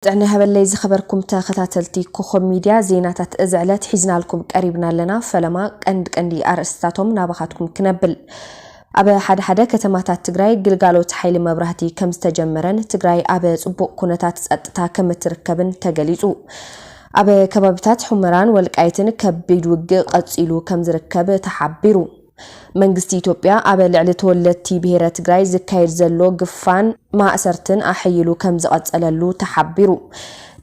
ጥዕና ይሃበለይ ዝኸበርኩም ተኸታተልቲ ኮኾብ ሚድያ ዜናታት እዚ ዕለት ሒዝናልኩም ቀሪብና ኣለና ፈለማ ቀንዲ ቀንዲ ኣርእስትታቶም ናባኻትኩም ክነብል ኣብ ሓደ ሓደ ከተማታት ትግራይ ግልጋሎት ሓይሊ መብራህቲ ከም ዝተጀመረን ትግራይ ኣብ ጽቡቕ ኩነታት ጸጥታ ከም እትርከብን ተገሊጹ ኣብ ከባቢታት ሑመራን ወልቃይትን ከቢድ ውግእ ቐጺሉ ከም ዝርከብ ተሓቢሩ መንግስቲ ኢትዮጵያ ኣብ ልዕሊ ተወለድቲ ብሄረ ትግራይ ዝካየድ ዘሎ ግፋን ማእሰርትን ኣሐይሉ ከምዝቐፀለሉ ተሓቢሩ።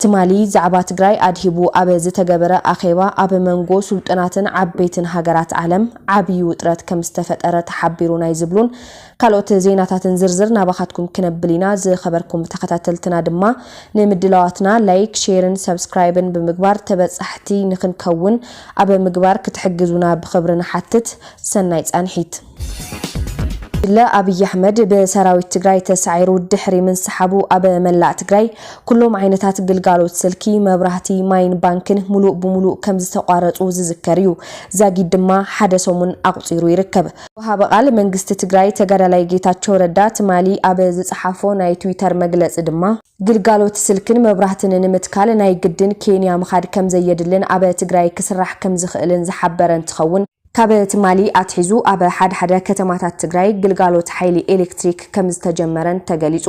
ትማሊ ዛዕባ ትግራይ ኣድሂቡ ኣብ ዝተገበረ ኣኼባ ኣብ መንጎ ስልጡናትን ዓበይትን ሃገራት ዓለም ዓብዪ ውጥረት ከምዝተፈጠረ ተሓቢሩ ናይ ዝብሉን ካልኦት ዜናታትን ዝርዝር ናባኻትኩም ክነብል ኢና። ዝኸበርኩም ተኸታተልትና ድማ ንምድላዋትና ላይክ፣ ሼርን ሰብስክራይብን ብምግባር ተበጻሕቲ ንኽንከውን ኣብ ምግባር ክትሕግዙና ብኽብሪ ንሓትት። ሰናይ ጻንሒት። ጉጅለ ኣብይ ኣሕመድ ብሰራዊት ትግራይ ተሳዒሩ ድሕሪ ምንስሓቡ ኣብ መላእ ትግራይ ኩሎም ዓይነታት ግልጋሎት ስልኪ፣ መብራህቲ፣ ማይን ባንክን ሙሉእ ብሙሉእ ከምዝተቋረፁ ዝዝከር እዩ። ዛጊድ ድማ ሓደ ሰሙን ኣቑፂሩ ይርከብ። ወሃቢ ቃል መንግስቲ ትግራይ ተጋዳላይ ጌታቸው ረዳ ትማሊ ኣብ ዝፀሓፎ ናይ ትዊተር መግለፂ ድማ ግልጋሎት ስልክን መብራህትን ንምትካል ናይ ግድን ኬንያ ምኻድ ከምዘየድልን ኣብ ትግራይ ክስራሕ ከምዝኽእልን ዝሓበረ እንትኸውን ካብ ትማሊ ኣትሒዙ ኣብ ሓደ ሓደ ከተማታት ትግራይ ግልጋሎት ሓይሊ ኤሌክትሪክ ከምዝተጀመረን ተገሊፁ።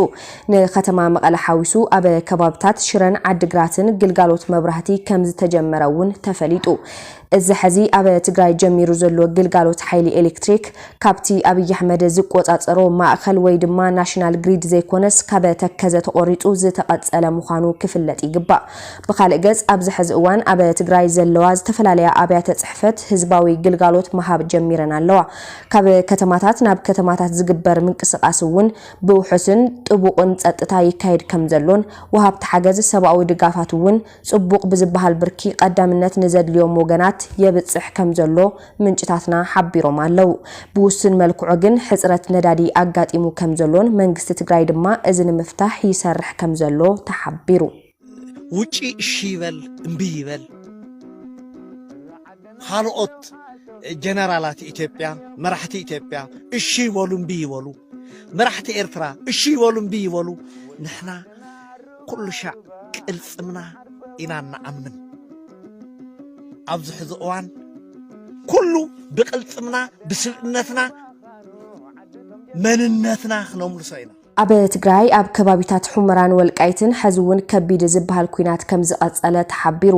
ንከተማ መቐለ ሓዊሱ ኣብ ከባብታት ሽረን ዓዲግራትን ግልጋሎት መብራህቲ ከምዝተጀመረ እውን ተፈሊጡ። እዚ ሐዚ ኣብ ትግራይ ጀሚሩ ዘሎ ግልጋሎት ሓይሊ ኤሌክትሪክ ካብቲ ኣብይ ኣሕመድ ዝቆፃፀሮ ማእኸል ወይ ድማ ናሽናል ግሪድ ዘይኮነስ ካብ ተከዘ ተቖሪፁ ዝተቐፀለ ምዃኑ ክፍለጥ ይግባእ። ብኻልእ ገፅ ኣብዚ ሐዚ እዋን ኣብ ትግራይ ዘለዋ ዝተፈላለያ ኣብያተ ፅሕፈት ህዝባዊ ግልጋሎት ምሃብ ጀሚረን ኣለዋ። ካብ ከተማታት ናብ ከተማታት ዝግበር ምንቅስቓስ እውን ብውሑስን ጥቡቕን ፀጥታ ይካየድ ከምዘሎን ወሃብቲ ሓገዝ ሰብኣዊ ድጋፋት እውን ጽቡቕ ብዝበሃል ብርኪ ቐዳምነት ንዘድልዮም ወገናት የብጽሕ ከምዘሎ ምንጭታትና ሓቢሮም ኣለው። ብውሱን መልክዑ ግን ሕጽረት ነዳዲ ኣጋጢሙ ከምዘሎን መንግስቲ ትግራይ ድማ እዚ ንምፍታሕ ይሰርሕ ከምዘሎ ተሓቢሩ። ውጪ እሺ ይበል እምቢ ይበል ኻልኦት ጀነራላት ኢትዮጵያ መራሕቲ ኢትዮጵያ እሺ ይበሉ እምቢ ይበሉ መራሕቲ ኤርትራ እሺ ይበሉ እምቢ ይበሉ ንሕና ኩሉ ሻዕ ቅልጽምና ኢና እንኣምን ኣብዚ ሕዚ እዋን ኩሉ ብቅልጽምና ብስብእነትና መንነትና ክነምልሶ ኢና ኣብ ትግራይ ኣብ ከባቢታት ሑመራን ወልቃይትን ሐዚ እውን ከቢድ ዝብሃል ኲናት ከምዝቐፀለ ተሓቢሩ።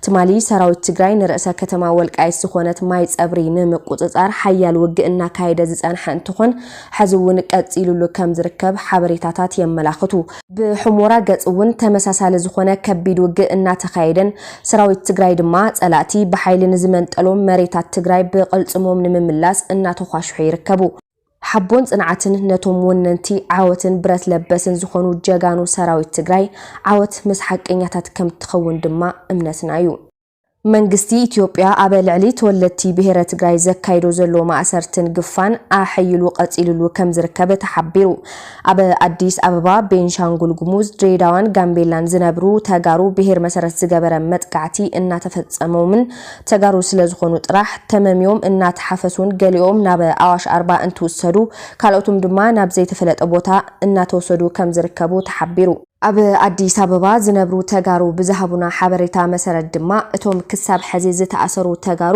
ትማሊ ሰራዊት ትግራይ ንርእሰ ከተማ ወልቃይት ዝኾነት ማይ ፀብሪ ንምቁፅፃር ሓያል ውግእ እናካየደ ዝፀንሐ እንትኾን ሐዚ እውን ቀፂሉሉ ከም ዝርከብ ሓበሬታታት የመላኽቱ። ብሑሞራ ገፅ እውን ተመሳሳሊ ዝኾነ ከቢድ ውግእ እናተኻየደን ሰራዊት ትግራይ ድማ ፀላእቲ ብሓይሊ ንዝመንጠሎም መሬታት ትግራይ ብቕልፅሞም ንምምላስ እናተዃሽሑ ይርከቡ። ሓቦን ፅንዓትን ነቶም ወነንቲ ዓወትን ብረት ለበስን ዝኾኑ ጀጋኑ ሰራዊት ትግራይ፣ ዓወት ምስ ሓቀኛታት ከምትኸውን ድማ እምነትና ዩ። መንግስቲ ኢትዮጵያ ኣብ ልዕሊ ተወለድቲ ብሄረ ትግራይ ዘካይዶ ዘሎ ማእሰርትን ግፋን ኣሐይሉ ቀፂልሉ ከምዝርከብ ተሓቢሩ። ኣብ ኣዲስ ኣበባ፣ ቤንሻንጉል ጉሙዝ፣ ድሬዳዋን ጋምቤላን ዝነብሩ ተጋሩ ብሄር መሰረት ዝገበረ መጥቃዕቲ እናተፈፀሞምን ተጋሩ ስለ ዝኾኑ ጥራሕ ተመምዮም እናተሓፈሱን ገሊኦም ናብ ኣዋሽ ኣርባ እንትውሰዱ ካልኦትም ድማ ናብ ዘይተፈለጠ ቦታ እናተወሰዱ ከም ዝርከቡ ተሓቢሩ። ኣብ ኣዲስ ኣበባ ዝነብሩ ተጋሩ ብዝሃቡና ሓበሬታ መሰረት ድማ እቶም ክሳብ ሐዚ ዝተኣሰሩ ተጋሩ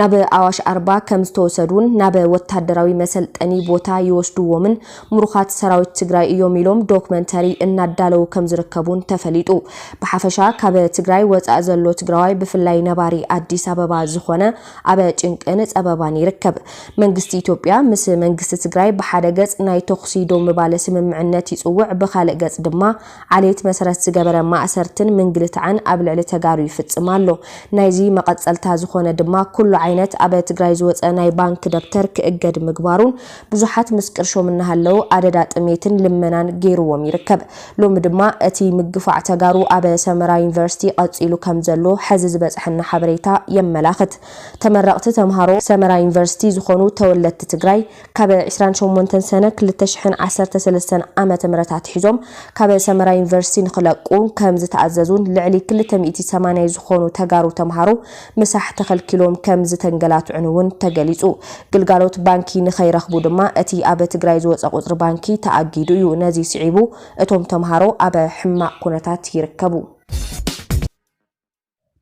ናብ ኣዋሽ ኣርባ ከም ዝተወሰዱን ናብ ወታደራዊ መሰልጠኒ ቦታ ይወስዱዎምን ምሩኻት ሰራዊት ትግራይ እዮም ኢሎም ዶክመንተሪ እናዳለዉ ከምዝርከቡን ተፈሊጡ። ብሓፈሻ ካብ ትግራይ ወፃኢ ዘሎ ትግራዋይ ብፍላይ ነባሪ ኣዲስ ኣበባ ዝኾነ ኣበ ጭንቅን ፀበባን ይርከብ። መንግስቲ ኢትዮጵያ ምስ መንግስቲ ትግራይ ብሓደ ገፅ ናይ ተኹሲ ደው ምባለ ስምምዕነት ይፅውዕ ብኻልእ ገፅ ድማ ዓሌት መሰረት ዝገበረ ማእሰርትን ምንግልታዕን ኣብ ልዕሊ ተጋሩ ይፍፅም ኣሎ። ናይዚ መቐፀልታ ዝኾነ ድማ ኩሉ ዓይነት ኣበ ትግራይ ዝወፀ ናይ ባንክ ደብተር ክእገድ ምግባሩን ብዙሓት ምስ ቅርሾም እናሃለዉ ኣደዳ ጥሜትን ልመናን ገይሩዎም ይርከብ። ሎሚ ድማ እቲ ምግፋዕ ተጋሩ ኣብ ሰመራ ዩኒቨርሲቲ ቐፂሉ ከም ዘሎ ሐዚ ዝበፀሐና ሓበሬታ የመላኽት። ተመረቕቲ ተምሃሮ ሰመራ ዩኒቨርሲቲ ዝኾኑ ተወለድቲ ትግራይ ካብ ዕስራን ሸሞንተን ሰነ ክልተ ሽሕን ዓሰርተ ሰለስተን ዓመተ ምህረት ኣትሒዞም ካብ ሰመራ ዩኒቨርሲቲ ንኽለቁ ከም ዝተኣዘዙን ልዕሊ ክልተ ሚእቲ ሰማንያ ዝኾኑ ተጋሩ ተምሃሮ ምሳሕ ተኸልኪሎም ከም ዝተንገላትዑን እውን ተገሊፁ። ግልጋሎት ባንኪ ንከይረኽቡ ድማ እቲ ኣብ ትግራይ ዝወፀ ቁፅሪ ባንኪ ተኣጊዱ እዩ። ነዚ ስዒቡ እቶም ተምሃሮ ኣብ ሕማቕ ኩነታት ይርከቡ።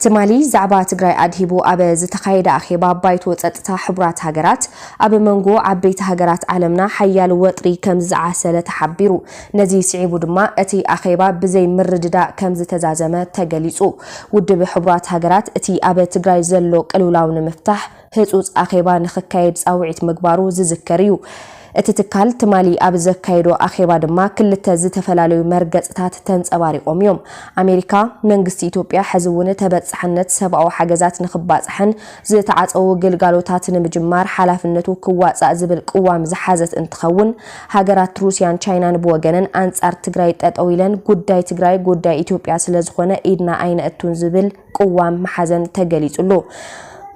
ትማሊ ዛዕባ ትግራይ ኣድሂቡ ኣብ ዝተኻየደ ኣኼባ ባይቶ ፀጥታ ሕቡራት ሃገራት ኣብ መንጎ ዓበይቲ ሃገራት ዓለምና ሓያል ወጥሪ ከም ዝዓሰለ ተሓቢሩ። ነዚ ስዒቡ ድማ እቲ ኣኼባ ብዘይ ምርድዳእ ከምዝተዛዘመ ተገሊፁ። ውድብ ሕቡራት ሃገራት እቲ ኣብ ትግራይ ዘሎ ቅልውላው ንምፍታሕ ህፁፅ ኣኼባ ንኽካየድ ፃውዒት ምግባሩ ዝዝከር እዩ። እቲ ትካል ትማሊ ኣብ ዘካየዶ ኣኼባ ድማ ክልተ ዝተፈላለዩ መርገፅታት ተንፀባሪቖም እዮም። ኣሜሪካ፣ መንግስቲ ኢትዮጵያ ሕዚ እውን ተበፃሕነት ሰብኣዊ ሓገዛት ንኽባፃሕን ዝተዓፀዉ ግልጋሎታት ንምጅማር ሓላፍነቱ ክዋፃእ ዝብል ቅዋም ዝሓዘት እንትኸውን፣ ሃገራት ሩስያን ቻይናን ብወገነን ኣንጻር ትግራይ ጠጠው ኢለን ጉዳይ ትግራይ ጉዳይ ኢትዮጵያ ስለዝኾነ ኢድና ኣይነእቱን ዝብል ቅዋም ምሓዘን ተገሊጹሉ።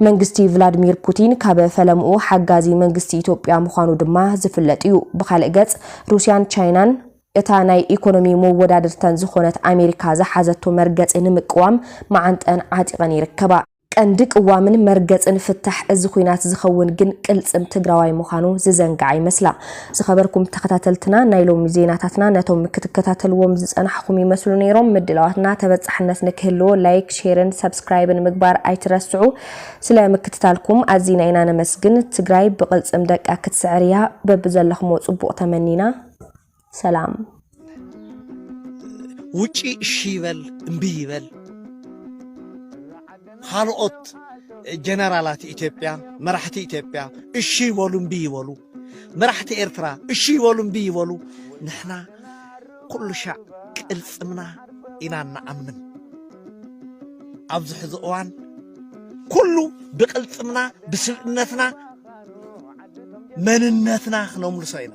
መንግስቲ ቭላድሚር ፑቲን ካብ ፈለምኡ ሓጋዚ መንግስቲ ኢትዮጵያ ምዃኑ ድማ ዝፍለጥ እዩ። ብኻልእ ገጽ ሩስያን ቻይናን እታ ናይ ኢኮኖሚ መወዳድርተን ዝኾነት ኣሜሪካ ዝሓዘቶ መርገጺ ንምቅዋም መዓንጠን ዓጢቐን ይርከባ። ቀንዲ ቅዋምን መርገጽን ፍታሕ እዚ ኹናት ዝኸውን ግን ቅልጽም ትግራዋይ ምዃኑ ዝዘንግዓ ይመስላ። ዝኸበርኩም ተኸታተልትና ናይ ሎሚ ዜናታትና ነቶም ክትከታተልዎም ዝጸናሕኹም ይመስሉ ነይሮም። ምድላዋትና ተበጻሕነት ንክህልዎ ላይክ፣ ሼርን ሰብስክራይብን ምግባር ኣይትረስዑ። ስለ ምክትታልኩም ኣዚና ኢና ነመስግን። ትግራይ ብቅልጽም ደቃ ክትስዕር እያ። በብዘለኽሞ ጽቡቕ ተመኒና። ሰላም ውጪ እሺ ይበል እምቢ ይበል ካልኦት ጀነራላት ኢትዮጵያ መራሕቲ ኢትዮጵያ እሺ ይበሉ እምቢ ይበሉ መራሕቲ ኤርትራ እሺ ይበሉ እምቢ ይበሉ ንሕና ኩሉ ሻዕ ቅልፅምና ኢና ንኣምን ኣብዚ ሕዚ እዋን ኩሉ ብቅልፅምና ብስብእነትና መንነትና ክነምልሶ ኢና